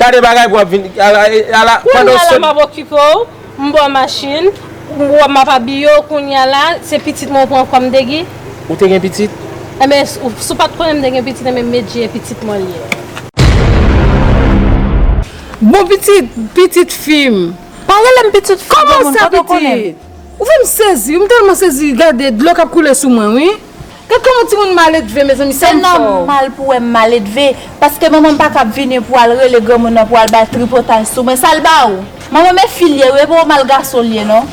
Gade bagay pou ap vin ala pandan w sot. Kounya la map okipe w, m bò machin, ou wè m ap abiye w kounya la se pitit mwen ou pran kòm degi? Ou te gen pitit? Enben si w pat konnen m te gen pitit enben Medjy e pitit mwen l ye. Bon pitit, pitit fi m. Pa rele m pitit fi granmoun, kote w konnen m? Kòman sa pitit? Ou fè m sezi, m tèlman sezi gade dlo kap koule sou mwen wi. Gad koman timoun maledve mezanmi sa m fè w. Se nòmal pou wè m maledve paske manman m pa kab vini pou al rele granmoun nan pou al bay tripotay sou mwen sa l ba ou? Manman m e fi l ye wi e pa w mal gason l ye non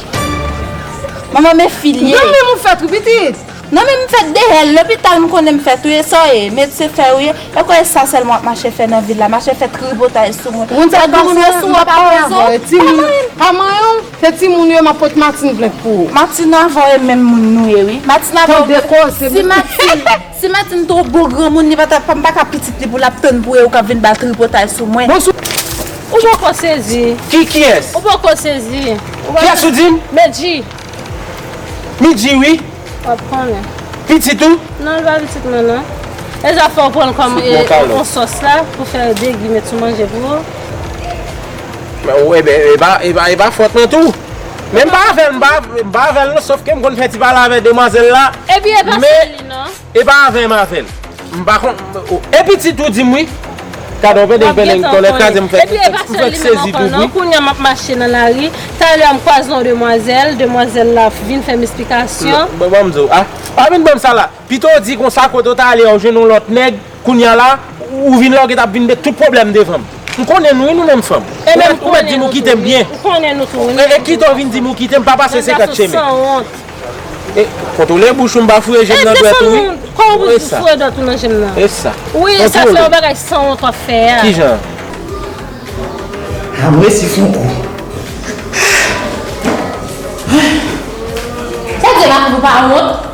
manman m e fi l ye. Nan menm ou fèt wi pitit. Nan menm m fèt dehè l lopital m konnen m fèt wi e sa w ye medsen fè w ye e kò e sa sèlman w ap mache fè nan vil la mache fè tripotay sou mwen fè granmoun wè sou w ap pale avè w e timoun pa manyen w. Se ti moun yo map pot matin plent pou ou. Matin avan e menm moun nou ye wi matin avan ou tande koze si matin si matin two bon granmoun li patap pa mpaka pitit li pou lap tann pou e ou kap vin ba tripotay sou mwen. Ou poko sezi. Ki kiyès? Ou poko sezi. Kiyès ou dim? Medjy. Midjy wi. Wap konnen. Pitit ou? Non li pa pitit mwen non. Deja fòw pranl kòm on sòs la pou fè degi met sou manje pou ou. E pa fòt mwen tou. Men m pa avèl, m pa avèl non, sof ke m konn fè ti pale avè demwazèl la. E pi e pa sèl li non. E pa avè m avèl. M pa konn, e pitit ou di m wi. Gadon pendeng pendeng tonnè kraze m fèk sezi tou wi. E pi e pa sèl li menm ankò non, kounya m ap mache nan lari, talè m kwaze yon demwazèl, demwazèl la vin fè m esplikasyon. Bon m di w, pa vin ban m sa la. Pito w di konsa kote w t ale a w jwenn yon lòt nèg kounye a la ou vin la ou gentan ap vin met tout pwoblèm devan m. M konnen nou wi nou menm fanm. E menm ou mèt di m ou kite m byen. E kite w vin di m ou kite m pa pase senkant chemen. Kontwole bouch ou m pa fouye je m nan dwèt ou wi. E sa. E sa. Kontwole. Kijan. Ha m resi fon kou. Sa w di la pou m pa wont.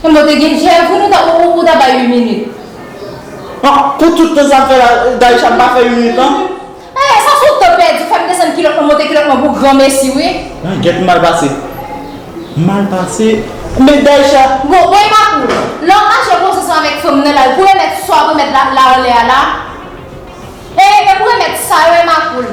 Konbe w te gen jèl pou nou ou ta bay ui minit. Bon pou tout tan sa fè la Daïsha m pa fè ui minit nan. Eeh sa son tan pèdi fèm desann kilòt mwen monte kilòt mwen pou gran mesi wi. Mwen gèt mal pase. Mal pase men Daïsha. Bon bon epa kou lè w mache konsa san avèk fanm nan la pou remèt sa w remèt la anlè a la. Eeh men pou remèt sa yo emakoul.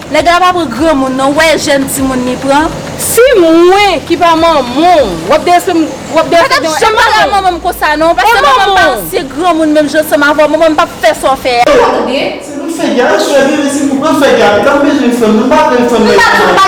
Nèg la pa pran granmoun non wè jèn timoun li pran. Si mwen ki pa manmanw wap dèyè sèm wap dèyè sèm yon e manmanw e manmanw. Se pou fè gyal a swe veve se pou pran fè gyal li pa bezwen fanm nou pa pran fanm nan pou manmanw.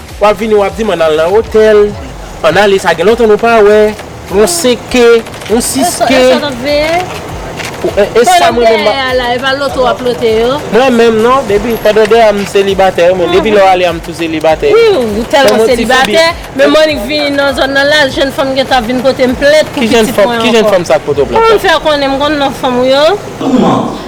Wap vini wap dim ann al nan otèl, ann ale sa gen lontan nou pa wè, yon 5 ke, yon 6 ke. Esa nap veye? Pandan m dèyè a la, epa loto wap lote yo? Mwen menm non, depi, pandan dèyè a m selibatè wi mwen, depi lè w ale a m tou selibatè. Wi ou tèlman selibatè, men Monique vini nan zòn nan la, jèn fanm gentan ap vin kote m plent pou pitit mwen ankò. Ki jèn fanm sa k poto plent la? Ou konn fè konnen m konn non fanm ou yo? Kouman?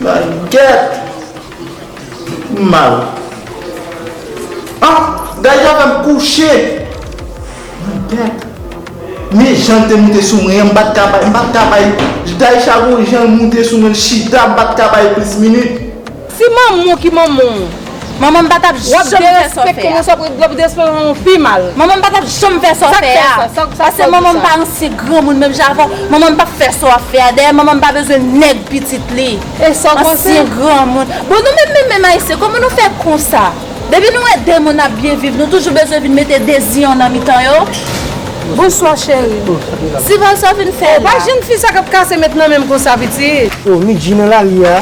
Bagèt m mal ah Gayou a fèm kouche Bagèt Men jan l te moute sou mwen an m pat ka bay m pat ka bay Daisha gon jan l moute sou mwen l chita m pat ka bay plis minit. Si manmanw ki manmanw manmanm pa tap janm derespekte yon sòprèt wap derespekte manmanw pi mal manmanm pa tap janm fè sa wap fèa paske manmanm pa ansyen granmoun menm jan avèw manmanm pap fè sa wap fèa dèyè manmanm pa bezwen nèg pitit li ansyen granmoun bon nou menm menm ayisyen kòman nou fè konsa depi nou wè de moun ap byen viv nou toujou bezwen vin mete deziyon nan mitan yo. Bonswa cheri. Divorce wap vin fè la. Oh pa jèn fi sa kap kase met nan menm konsa pitit. Oh Midjine la li a.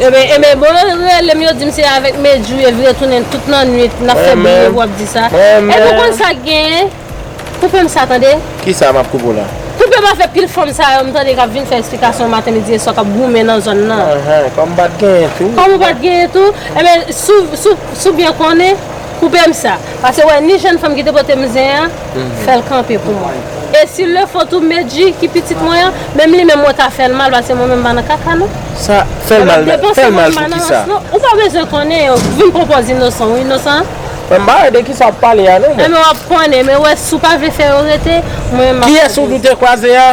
Enben enben bon yo relem yo dim se avek medjou yo vire tounen tout nan nwit nap fe bri epi wap di sa epi ou konn sak genyen koupem sa tande Kisa map koupe w la? Koupem afè pil fanm sa yo m tande kap vin fè esplikasyon maten midi e swa kap goumen nan zòn nan Anhan kòm pat genyen tou Kòm ou pat genyen tou enben si w byen konnen koupem sa pase wè ni jèn fanm ki te potem zen an. Fè l kanpe pou mwen. E si l le fò tou Medjy ki pitit mwen an, menm li menm mwen ta fè l mal paske mwen menm m pa nan kaka non. Sa, fè l mal, fè l mal pou kisa? Ou pa bezwen konnen yo, vin pran pòz inosan ou inosan an. Mwen m pa wè de kisa w ap pale a non mwen. Enben w ap konnen, men wè si w pa vle fè yo rete, mwen menm m ap. Kiyès ou di w te kwaze a?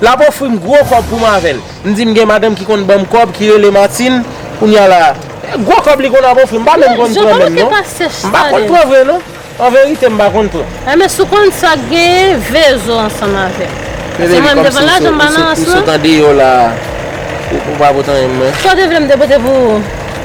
Lap ofrim gwo kòb poum avèl. M di m gen madanm ki konn banm kòb ki rele Martine kounya la e gwo kòb li konn ap ofrim m pa menm konn pran menm non m pa konn pran vre non an verite m pa konn pran. Enben sou konn sa genyen vezo ansanm avèm paske mwen m te pran lajan balans lan. Ou sot andeyò la ou pa pote anyen pou mwen. Sa w te vle m te pote pou ou.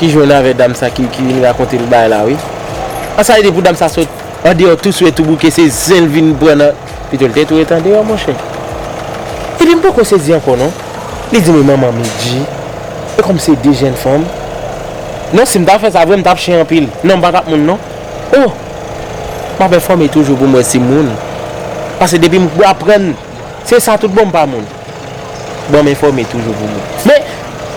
ki jwenn avè dam sa ki vin rakonte l bay la wi an sa li di pou dam sa sot andeyò tou swe tou bouke se zen l vin pran nan pito l te tou ret andeyò monchè epi m poko sezi ankò non li di m e manman Medji e kòm se de jèn fanm non si m ta fè sa vre m tap chen anpil non m pa tap moun non oh m ap enfòme toujou pou m wè si m moun paske depi m aprann se sa tout bon m pa moun. Bonm enfome toujou pou mwen. Men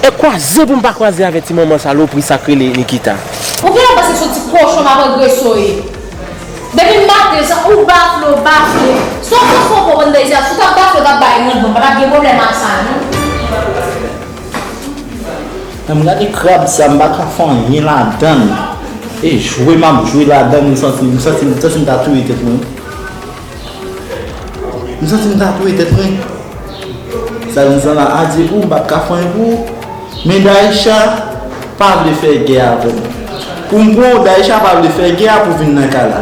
e kwaze poum pa kwaze avè ti manman salopri sak rele Nikita. Pou kila pase son ti kochon map agreso ye depim maten sa ou bafle ou bafle son fo fo fo bann bèze sou tap bafle tap bay randman patap gen problèm ak sa non. Humm gade krab sa m pa ka fè anyen ladann e jwe map jwe ladann m santi m santi m ta touye tèt mwen. M santi m ta touye tèt mwen. Sa di zan la adye pou m pa t ka fanyen pou ou. Men Daïsha pa vle fè gè avè m. Pou m pran w Daïsha pa vle fè gè a pou vin nan kay la.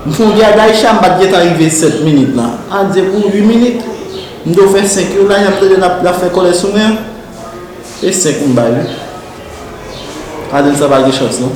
M fon gè a Daïsha m pa t gen tan rive 7 minit lan. Adye pou 8 minit. M do fè 5 yo la y ap tande l ap fè kòlè sou mwen. E 5 m bay wi. Adye sa pa gen chans non.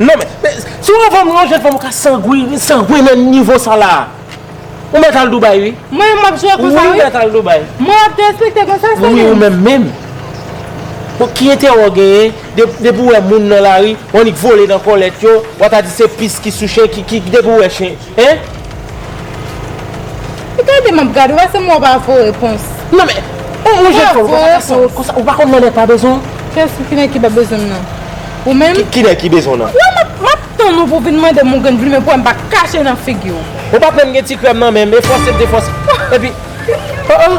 Non men, si w anfòm, yon jèn fanm ou ka sangwini, sangwini nan nivo sa la a. Ou mèt al Dubai wi. Mwen menm m ap jwe konsa wi. Wi ou mèt al Dubai. Mwen ap derespekte konsa sèm. Wi ou menm menm. Bon ki enterè w genyen, depi w wè moun nan lari, w annik vole nan kòlèt yo, w a ta di se pis ki sou chen, depi w wè chen. Hein? E gade map gade ou pa se mwen ou pa vo repons. Non men Ou ou jèn fè ou pa ka san wont konsa ou pa konn Nènè pa bezwen w. Kès ou kinè ki pa bezwen m nan? Ou menm? Kinè ki bezwen w nan? Wè map map tann ou pou vin mande m ou gen plimen pou wè m pa kache nan figi w. Ou pat menm gen ti krèm nan menm e fòse m te fòse epi oh oh.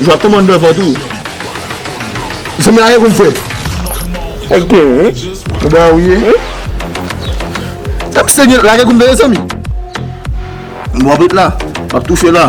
Jwa kòman dwe vòt ou. Zanmi a ye kou m fwe. Ok wi. Ou ba ou ye. Tap pise nye lage kou m veye zanmi. M wap ret la. M ap toufe la.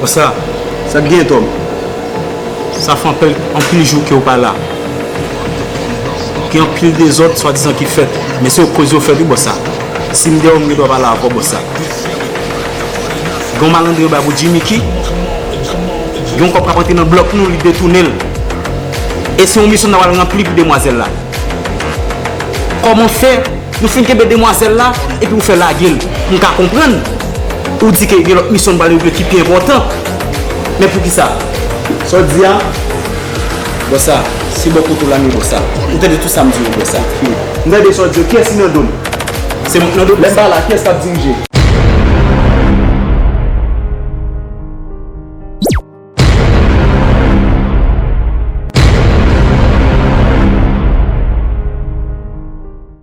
Konsa, sa k gen, Tòm? Sa fè anpèl anpil jou ke ou pa la. Gen anpil dezòd swadizan ki fèt, men se yo koz yo fèt wi, bòs sa. Si m deyò, m gen dwa pa la ankò, bòs sa. Gen yon malandren yo bay pou Jimmy ki gen yon kòb k ap antre nan blòk nou, li detounen l. E se yon misyon n ap al ranpli pou demwazèl la. Kòman fè? Nou fin kenbe demwazèl la epi ou fè lage l. M ka konprann ou di ke gen lòt misyon nou pral regle ki pi enpòtan. Men poukisa? Sa w di a Bon sa se bò kote w la men bon sa Ou tande tout sa m di w bon sa Fini. M tande sa w di yo Kiyès ki nan do m? Se mwen k nan do m? Lè m pa la kiyès k ap dirije?